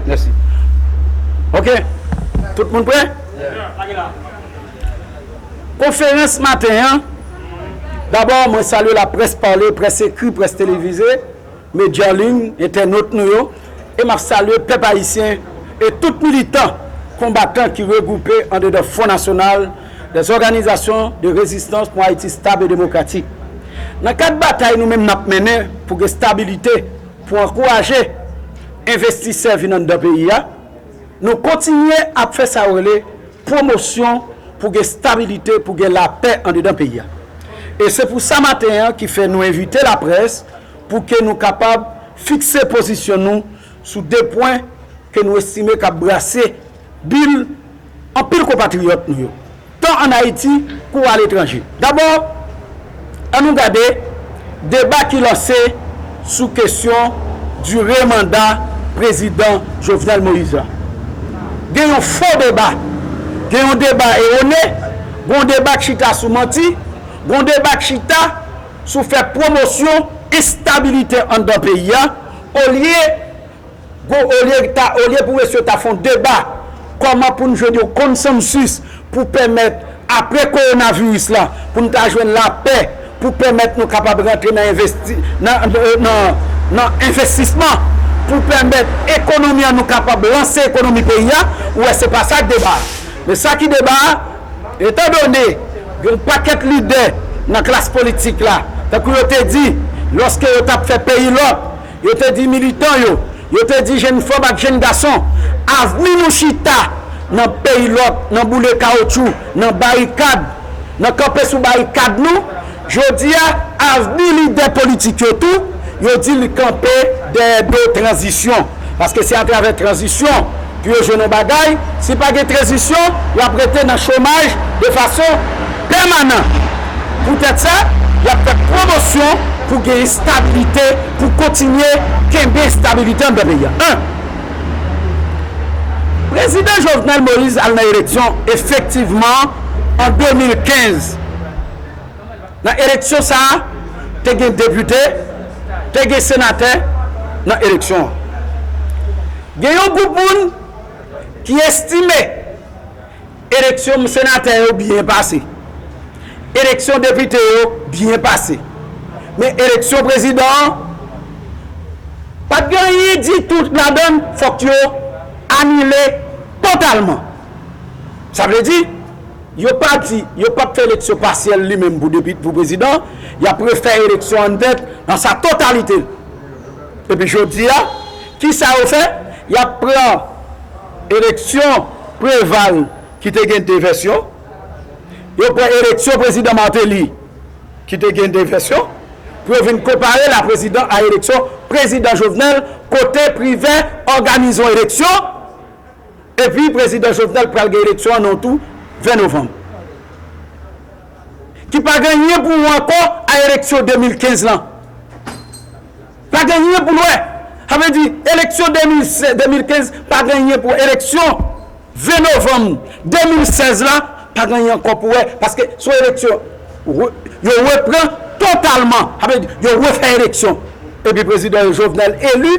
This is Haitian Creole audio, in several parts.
Mèsi Ok Tout moun prè? Konferans maten an Dabò mwen salye la près pale, près ekri, près televize, medya an liy, entènot nou yo e m ap salye pèp ayisyen e tout militan, konbatan ki regwoupe andedan Fwon Nasyonal dè òganizasyon de rezistans pou Ayiti stab e demokratik. Nan kad batay nou menm n ap mennen pou gen stabilite, Pou ankouraje envestisè vin anndan peyi a, nou kontinye ap fè sa yo rele pwomosyon pou gen stabilite, pou gen lapè andedan peyi a. E se pou sa maten an ki fè nou envite laprès pou ke nou kapab fikse pozisyon nou sou 2 pwen ke nou estime k ap brase bil Anpil konpatriyòt nou yo, tan ann Ayiti kou aletranje. Dabò, an nou gade deba ki lanse sou kesyon dire manda Prezidan Jovenel Moïse la. Gen yon fo deba, gen yon deba ewone, gon deba k chita sou manti, gon deba k chita sou fè pwomosyon enstabilite anndan peyi a olye Gwo olye ta olye pou mesye yo ta fon deba kòman pou n jwenn yon konsansus pou pèmèt apre kowonaviris la pou n ta jwenn lapè pou pèmèt nou kapab rantre nan envesti nan envestisman pou pèmèt ekonomi an nou kapab lanse ekonomi peyi a ou wè se pa sa k deba a men sa ki deba a etan done gen yon pakèt lidè nan klas politik la tankou yo te di lòske yo t ap fè peyi lòk Yo te di militan yo, yo te di jenn fanm ak jenn gason, avni nou chita nan peyi lòt, nan boule kawoutchou, nan barikad, nan kanpe sou barikad nou. Jodi a, avni lidè politik yo tou, yo di li kanpe dèyè do tranzisyon, paske se atravè tranzisyon, Pou yo jwenn yon bagay, si pa gen tranzisyon, y ap rete nan chomaj de fason pèmanan. Poutèt sa, y ap fè pwomosyon pou gen estabilite, pou kontinye kenbe estabilite anndan peyi a. 1. Prezidan Jovenel Moïse al nan eleksyon efektivman an 2015. Nan eleksyon sa a, te gen depite, te gen senatè nan eleksyon an. Gen yon gwoup moun ki estime eleksyon senatè yo byen pase, eleksyon depite yo byen pase, men eleksyon prezidan an pa t gen anyen ditou ladan l, fòk yo anile totalman. Sa vle di. Yo pa di yo pap fè eleksyon pasyèl li menm pou depite pou prezidan, yap refè eleksyon an tèt nan sa totalite l. Epi jodi a, kisa yo fè? Yap pran eleksyon Preval ki te gen 2 vèsyon, yo pran eleksyon prezidan Martelly ki te gen 2 vèsyon pou yo vin konpare l a prezidan a eleksyon prezidan Jovenel kote Privè òganize yon eleksyon, Epi prezidan Jovenel pral gen eleksyon an non tou 20 novanm. Ki pa gen anyen pou wè ankò a eleksyon 2015 lan. Pa gen anyen pou l wè. Sa vle di eleksyon 2015 pa gen anyen pou wè. Eleksyon 20 novanm 2016 la pa gen anyen ankò pou wè. Paske se yon eleksyon yo repran totalman. Sa vle di yo refè eleksyon. Epi prezidan Jovenel eli.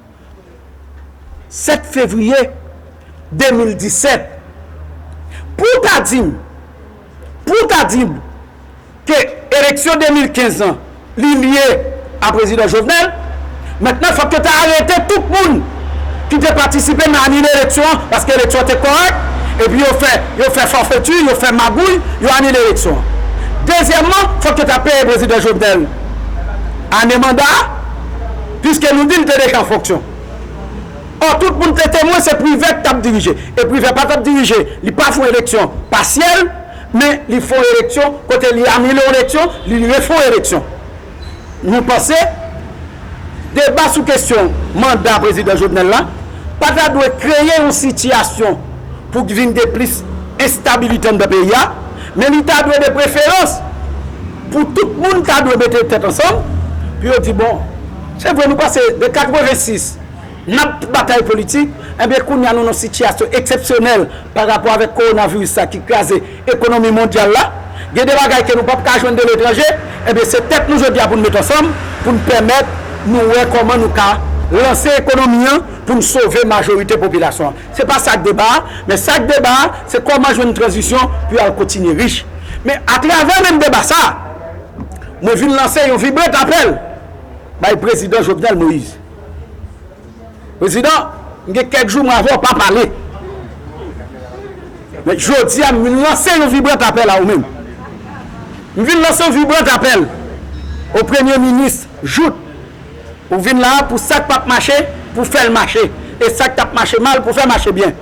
7 fevriye 2017 pou w ta di m pou w ta di m ke eleksyon 2015 lan li lye a prezidan Jovenel mentnan fòk yo ta arete tout moun ki te patisipe nan anile eleksyon an paske eleksyon an te kòrèk epi yo fè yo fè fòfeti yo fè magouy yo anile eleksyon an dezyèmman fòk yo ta peye prezidan Jovenel ane manda a. Piske nou di l te deja an fonksyon. Ò, tout moun te temwen se Privè k t ap dirije. E Privè pa t ap dirije, li pa fè yon eleksyon pasyèl, men li fè yon eleksyon kote li anile yon eleksyon, li refè yon eleksyon. Nou panse deba sou kesyon manda Prezidan Jovenel la pa ta dwe kreye yon sitiyasyon pou k vin gen plis enstabilite anndan peyi a, men li ta dwe de preferans, Pou tout moun ta dwe mete tèt ansanm pou yo di bon, se vre nou pase de 86 n ap batay politik, enben kounye a nou nan yon sitiyasyon eksepsyonèl pa rapò avèk kowonaviris sa ki kraze ekonomi mondyal la, gen de bagay ke nou p ap ka jwenn de letranje, enben se tèt nou jodi a pou nou mete ansanm pou nou pèmèt nou wè kòman nou ka lanse ekonomi an pou nou sove majorite popilasyon an. Se pa sak deba a, men sak deba a, se kòman jwenn tranzisyon pou yo al kontinye rich. Men atravè menm deba sa a, mwen vin lanse yon vibrat apèl bay Prezidan Jovenel Moïse. Prezidan, m gen kèk jou mwen avè w pa pale. Men jodi a m vin lanse yon vibrat apèl a ou menm. M vin lanse yon vibrat apèl o Premye Minis Jout. Ou vin la a pou sak pap mache pou fèl mache e sak tap mache mal pou fè mache byen.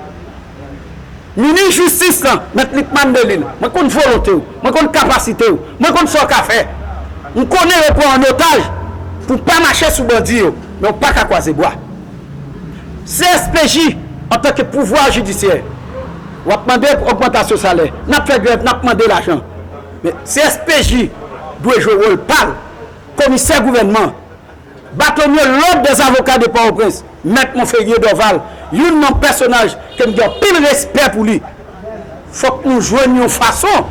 Minis jistis lan, Mèt Lickman Delil, mwen konn volonte w, mwen konn kapasite w, mwen konn sa w ka fè. M konnen yo pran w an otaj pou w pa mache sou bandi yo, men w pa ka kwaze bwa. CSPJ, Antanke pouvwa jidisyè, w ap mande pou ogmantasyon salè, n ap fè grèv, n ap mande lajan. Men CSPJ dwe jwe wòl pa l. Komisè gouvènman an, Batonye Lòd dè Zavoka de Pòtoprens, Mèt Monferrier Dorval, youn nan pèsonaj ke m gen anpil respè pou li. Fòk nou jwenn yon fason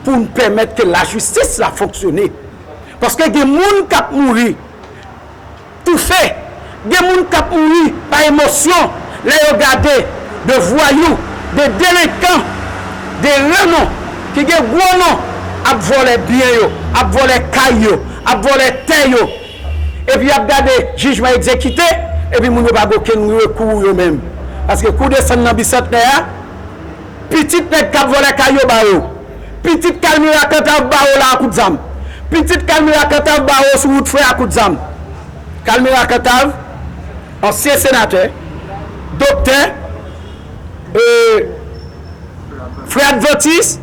pou n pèmèt ke lajistis la fonksyone. Paske gen moun k ap mouri. Toufe! Gen moun kap mouri pa emosyon lè yo gade de vwayou, de delenkan, de renon ki gen gwo non ap vòlè byen yo, ap vòlè kay yo, ap vòlè tè yo. Epi yap gade jijman egzekite epi moun yo pa gen okenn rekou yo menm. Paske kou desann nan bisantnè a. Pitit nèg kap vòlè kay yo ba yo. Pitit kalmira kantav ba yo la a kout zam. Pitit kalmira kantav ba yo sou wout frè a kout zam. Kalmira kantav ansyen senatè, doktè, e frè advantis,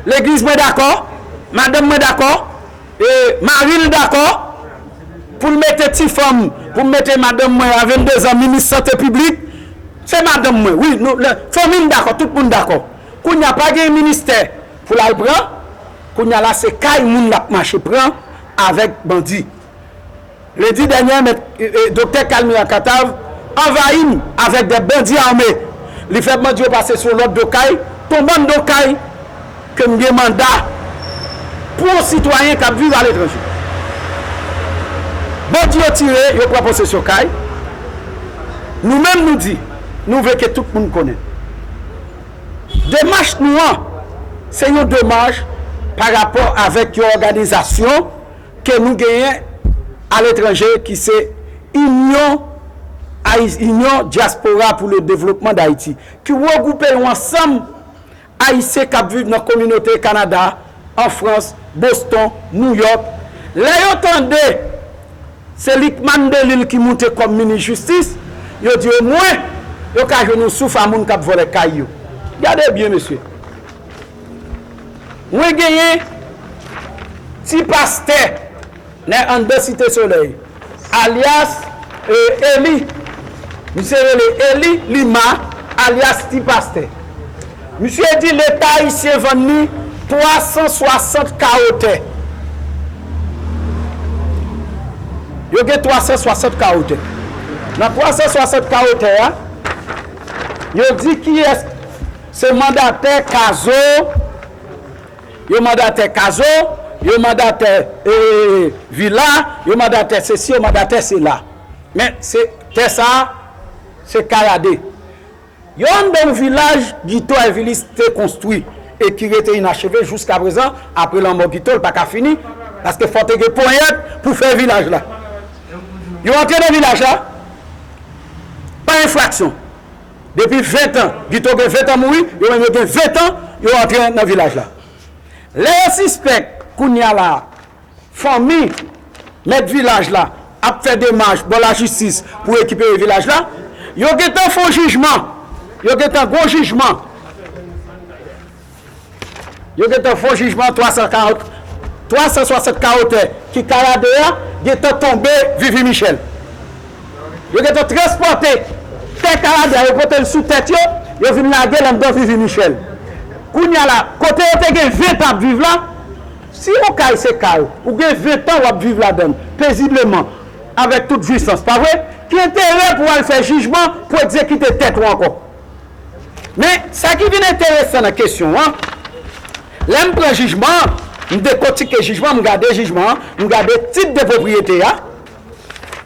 legliz mwen dakò, madanm mwen dakò. E mari l dakò pou l mete ti fanm pou m mete madanm mwen a 22 zan minis sante piblik se madanm mwen wi nou lè fanmi m dakò tout moun dakò kounya pa gen ministè pou l al pran kounya la se kay moun l ap mache pran avèk bandi. Lendi dènyè, mèt Doktè Kalmira Katav anvayi m avèk 2 bandi ame. Li fè bandi yo pase sou yon lòt do kay, ton bann do kay ke m gen manda pou yon sitwayen k ap viv aletranje. Bandi yo tire, yo pran posesyon kay. Nou menm nou di, nou vle ke tout moun konnen. Demach nou an, se yon demach pa rapò avèk yon òganizasyon. ke nou genyen a letranje ki se Inyon Ayis Inyon Dyaspora pou le Devlopman Dayiti ki regwoupe yon ansanm Ayisyen k ap viv nan kominote Kanada, an Frans, Boston, Nouyòk. Lè yo tande se Lickman Delil ki moute kòm Minis Jistis, yo di omwen yo ka jwenn yon souf a moun k ap vòlè kay yo. Gade byen mesye! Mwen genyen ti pastè nè anndan site solèy alyas eli misye rele eli lima alyas ti pastè misye di leta ayisyen vann li 360 kawo tè yo gen 360 kawo tè nan 360 kawo tè a yo di kiyès Se mandatè kazo yo mandatè kazo yo mandatè vila yo mandatè sesi yo mandatè sela men se tè sa se kayade yo anndan yon vilaj gito èvilis te konstwi e ki rete inacheve jouskaprezan apre lanmò gito l pa ka fini paske fò te gen ponyèt pou fè vilaj la yo antre nan vilaj la pa enfraksyon. Depi 20 tan, Guito gen 20 tan mouri, yo menm yo gen 20 tan yo antre nan vilaj la. Lè yo sispèk kounya la a fanmi mèt vilaj la ap fè demach bò lajistis pou rekipere vilaj la, yo gentan fon jijman, yo gentan gon jijman. Yo gentan fon jijman 340 360 kawo tè ki Kayade a gentan tonbe vivi Michel. Yo gentan transpòte tè Kayade a yo pote l sou tèt yo, yo vin lage l anndan vivi Michel. Kounya la kote yo te gen 20 tan ap viv la, si yon kay se kay ou gen 20 tan wap viv ladan l pezibleman avèk tout jwisans pa vre, ki enterè pou al fè jijman pou egzekite tèt ou ankò? Men, sa ki vin enteresan nan kesyon an, lè m pran jijman an, m dekotike jijman an, m gade jijman an, m gade tit de pwopriyete a,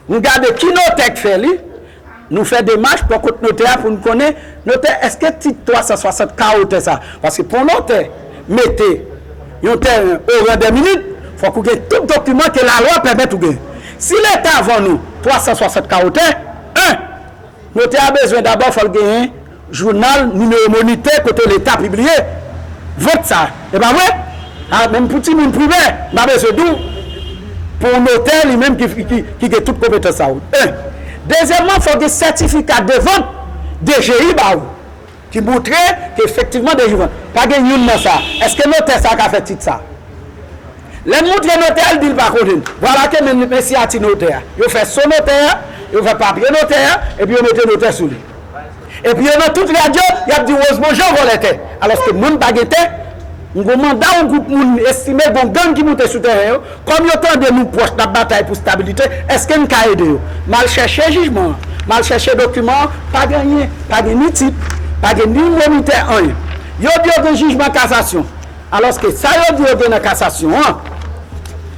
m gade ki notè k fè li, nou fè demach bò kot notè a pou n konnen, notè, èske tit 360 ka otè sa? Paske pou yon notè mete yon tèren o ran dè minit, fòk ou gen tout dokiman ke lalwa pèmèt ou gen. Si Leta vann ou 360 ka otè, 1. Notè a bezwen dabò fòl genyen jounal nimewo monitè kote leta pibliye vant sa e pa vre? Ah menm pou timoun primè m pa bezwen di w pou notè li menm ki gen tout konpetans sa w 1 dezyèmman fòk gen sètifika de vant DGI ba w. Ki moutre ke efektivman delivrans. Pa gen youn nan sa. Eske notè sa ka fè tit sa? Lè n moutre notè a, l di l pa konnen. Vwala ke men men siyati notè a. Yo fè so notè a, yo fè papye notè a, epi yo mete notè sou li. Epi yo nan tout radyo, y ap di Wozman Jan vòlè tè. Alòske moun pa gen tè. M gen yon manda yon gwoup moun estime gen yon gang ki moute sou tèren yo. Kòm yo tande nou pwòch n ap batay pou stabilite, èske n ka ede yo? M al chèche jijman an, m al chèche dokiman an, pa gen anyen. Pa gen ni tit, pa gen ni monitè anyen. Yo di yo gen jijman kasasyon, alòske sa yo di yo gen nan kasasyon an,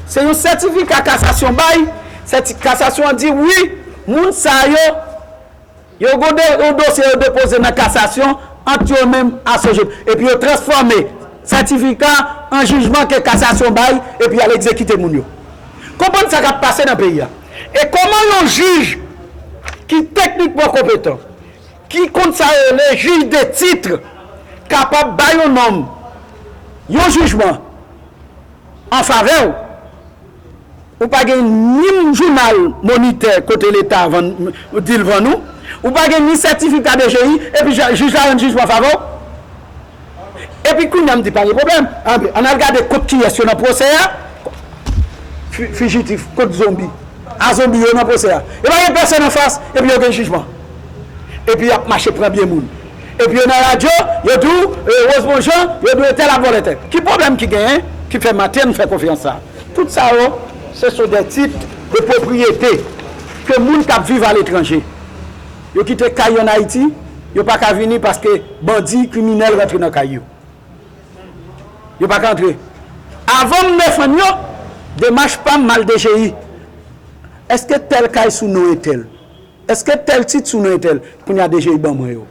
se yon sètifika kasasyon bay, sèti kasasyon an di wi, moun sa yo, Yo goude yon dosye yo depoze nan kasasyon ant yo menm a Sojeb epi yo transfòme sètifika an jijman ke kasasyon bay epi y al egzekite moun yo. Konprann sa k ap pase nan peyi a e kòman yon jij ki teknikman konpetan, ki konn sa yo rele juge de titre kapab bay yon nonm yon jijman an favè w. Ou pa gen ni jounal monitè kote leta vann di l vann ou, ou pa gen ni sètifika DGI epi jij la rann jijman favè w. Epi kounye a m di pa gen pwoblèm, anben ann al gade kont kiyès yo nan pwosè a, fijitif kont zonbi, a zonbi yo nan pwosè a. Yo pa gen pèsòn anfas epi yo gen jijman. Epi y ap mache pran byen moun. Epi yo nan radyo, yo di w, e Rosemond Jean, yo di w etèl ap vòlè tè. Ki pwoblèm ki genyen ki fè Mathen fè konfyans sa a? Tout sa yo, se sou dè tit de pwopriyete ke moun k ap viv aletranje. Yo kite kay yo an Ayiti, yo pa ka vini paske bandi, kriminèl rantre nan kay yo. Yo pa ka antre. Avan m defann yo, demach pa m, m al DGI. Eske tèl kay sou non etèl? Eske tel tit sou non etel. Kounya DGI ban mwen yo.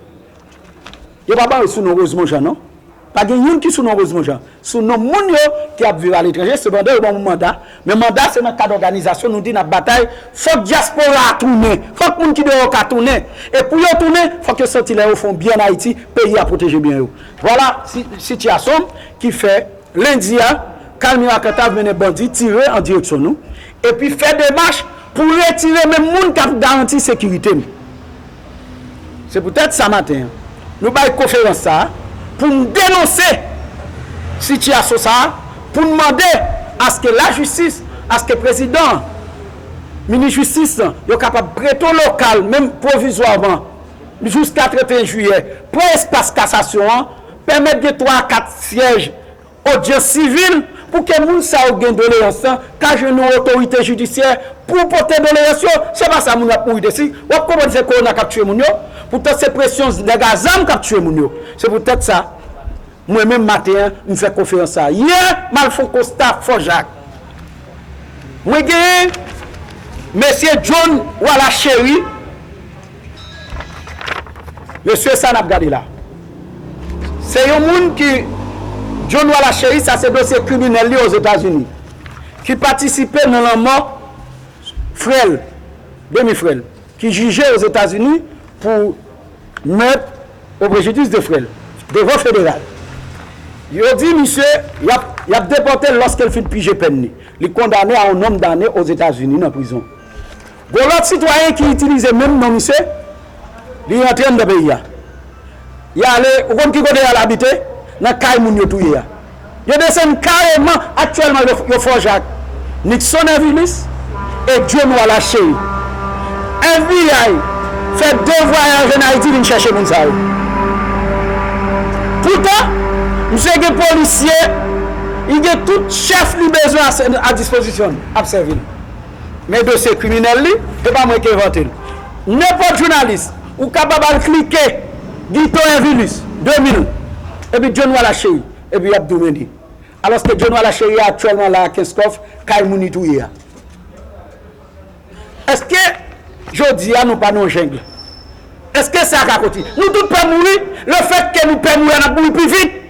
Yo pa ban yo sou non Rosemond Jean non. Pa gen youn ki sou non Rosemond Jean. Sou non moun yo ki ap viv aletranje. Sepandan yo ban mwen manda. Men manda se nan kad òganizasyon nou di n ap batay. Fòk dyaspora a tounen. Fòk moun ki deyò ka tounen. E pou yo tounen, fòk yo santi lè yo fè yon byen an Ayiti, peyi a pwoteje byen yo. Vwala sitiyasyon ki fè lendi a Kalmira Kantav mennen bandi tire an direksyon nou. epi fè demach pou retire menm moun k ap garanti sekirite m. Se poutèt sa maten an, nou bay konferans sa a pou n denonse sitiyasyon sa a, pou n mande aske lajistis, aske prezidan an, minis jistis lan, yo kapab prete w lokal menm pwovizwaman jiska 31 jiyè, pran espas kasasyon an, pèmèt gen 3 a 4 syèj Odyans sivil pou ke moun sa yo gen doleyans lan ka jwenn yon otorite jidisyè pou pote doleyans yo, se pa sa moun yo ap mouri de si, wap konprann se kowona kap tye moun yo, poutant se presyon nèg a zam kap tye moun yo. Se pou tèt sa mwen menm maten an m fè konferans sa. Yè m al fon konsta fò jak. Mwen gen Mesye John Wala Chery. Mesye sa nap gade la se yon moun ki John Wala Chery sa se dosye kriminèl li ozetazini ki patisipe nan lanmò frèl demi frèl ki jije ozetazini pou mèt o prejidis de frèl devan federal yo di misye yap depòtel lòskel fin pije pèn li li kondane a yon nonm dane ozetazini nan prizon. Gon lòt sitwayen ki itilize menm non misye, li rantre anndan peyi a. Li ale, ou konn ki kote li al abite? Nan kay moun yo touye a. Yo desann kareman, aktyèlman yo fòje ak Nixon Ervilis e John Wallace Chery. FBI fè 2 vwayaj ann Ayiti vin chèche moun sa yo. Poutan, misye gen polisye, li gen tout chèf li bezwen a dispozisyon l, ap sèvi l. Men dosye kriminèl li, e pa mwen ki envante l. Nenpòt jounalis, ou kapab al klike Guito Invilus 2000, epi John Wallace Chery, epi y ap di w men li. Alòske John Wallace Chery aktyèlman la a Kenskòf, kay moun li touye a. Èske jodi a nou pa nan yon jungle? Èske sa ka kontinye? Nou tout pè mouri, lefètke nou pè mouri a n ap mouri pi vit.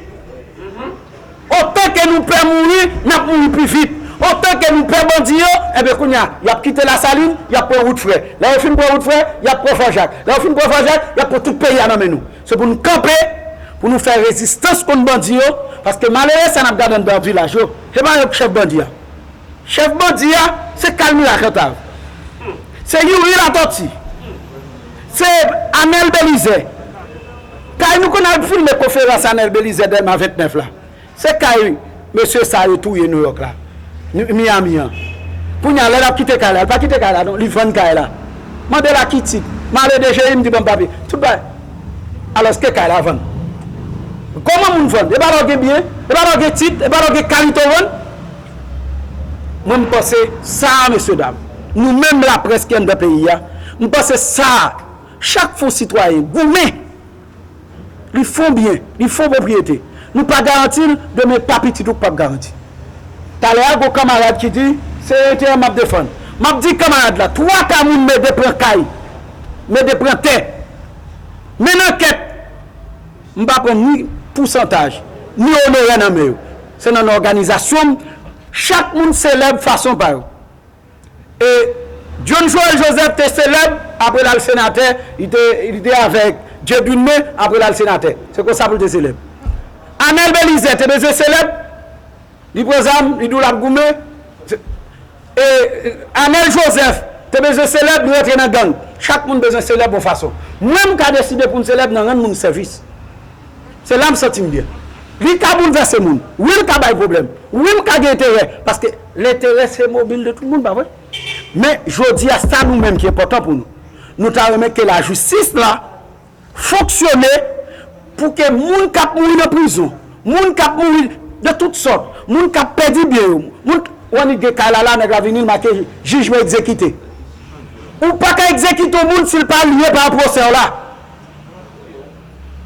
Otan ke nou pè mouri, n ap mouri pi vit. Otan ke nou pè bandi yo, enben kounye a, y ap kite Lasalin, y ap pran wout Frè. Lè yo fin pran wout Frè, y ap pran Fò Jak. Lè yo fin pran Fò Jak, y ap pran tout peyi a nan men nou. Se pou nou kanpe, pou nou fè rezistans kont bandi yo, paske malere sa n ap gade anndan vilaj yo, se pa yo ki chèf bandi a. Chèf bandi a, se Kalmira Kantav, se Youri Latòti, se Anèl Belizè. Kay nou konn al filme konferans Anel Belizaire Dèlma 29 la, se kay mesye sa yo touye Nouyòk la, Miyami an. Kounye a lè l ap kite kay la, li pa kite kay la non, li vann kay la. Mande l a ki tit. M ale dji m di ban m papye. Tout bagay. Alòske kay la vann. Kòman moun vann? E pa lè w gen byen? E pa lè w gen tit? E pa lè w gen kalite w vann? Mwen m panse sa a mesye dam, nou menm laprès ki anndan peyi a, m panse sa a. Chak fon sitwayen goumen, li fon byen, li fon pwopriyete. Nou pa garanti l, demen pa pitit ou k pap garanti. Talè a gon kanmarad ki di, se enterè m ap defann. M ap di kanmarad la, twa ka moun mede pran kay, mede pran tè. Menn ankèt, m pa pran ni pousantaj, ni onorè nan men yo. Se nan òganizasyon m, chak moun selèb fason pa yo. E John Joël Joseph te selèb apre l al senatè, li te avèk Dieudune men apre l al senatè. Se konsa pou l te selèb. Anel Belizè te bezwen selèb, li pran zam, li di w l ap goumen. E Anel Joseph te bezwen selèb, li rantre nan gang. Chak moun bezwen selèb yon fason. Mwen m ka deside pou m selèb nan rann moun sèvis. Se la m santi m byen. Li ka boulvèse moun. Wi l ka bay pwoblèm. Wi m ka gen enterè. Paske lenterè se mobil de tout moun, pa vre? Men, jodi a, sa nou menm ki enpòtan pou nou, nou ta renmen ke lajistis la fonksyone pou ke moun k ap mouri nan prizon, moun k ap mouri de tout sòt, moun k ap pèdi byen yo, moun k. Ou annik gen kay la la, nèg la vini, l make jijman egzekite. Ou pa ka egzekite yon moun si l pa lye pa an pwosè w la.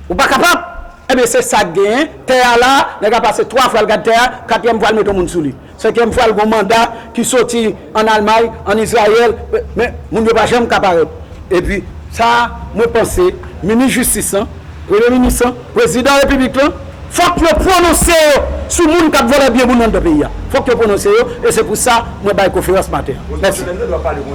Ou pa kapab? Ebyen se sa k genyen, tè a la, nèg la pase 3 fwa l gad tè a, katriyèm fwa l mete yon moun sou li. Senkyèm fwa l gen yon manda ki soti ann Almay, ann Izrayèl, men moun yo pa janm ka parèt. Epi sa mwen panse minis jistis lan, premye minis lan, prezidan repiblik lan, fòk yo pwononse yo sou moun k ap vòlè byen moun anndan peyi a. Fòk yo pwononse yo e se pou sa mwen bay konferans maten an. Mèsi.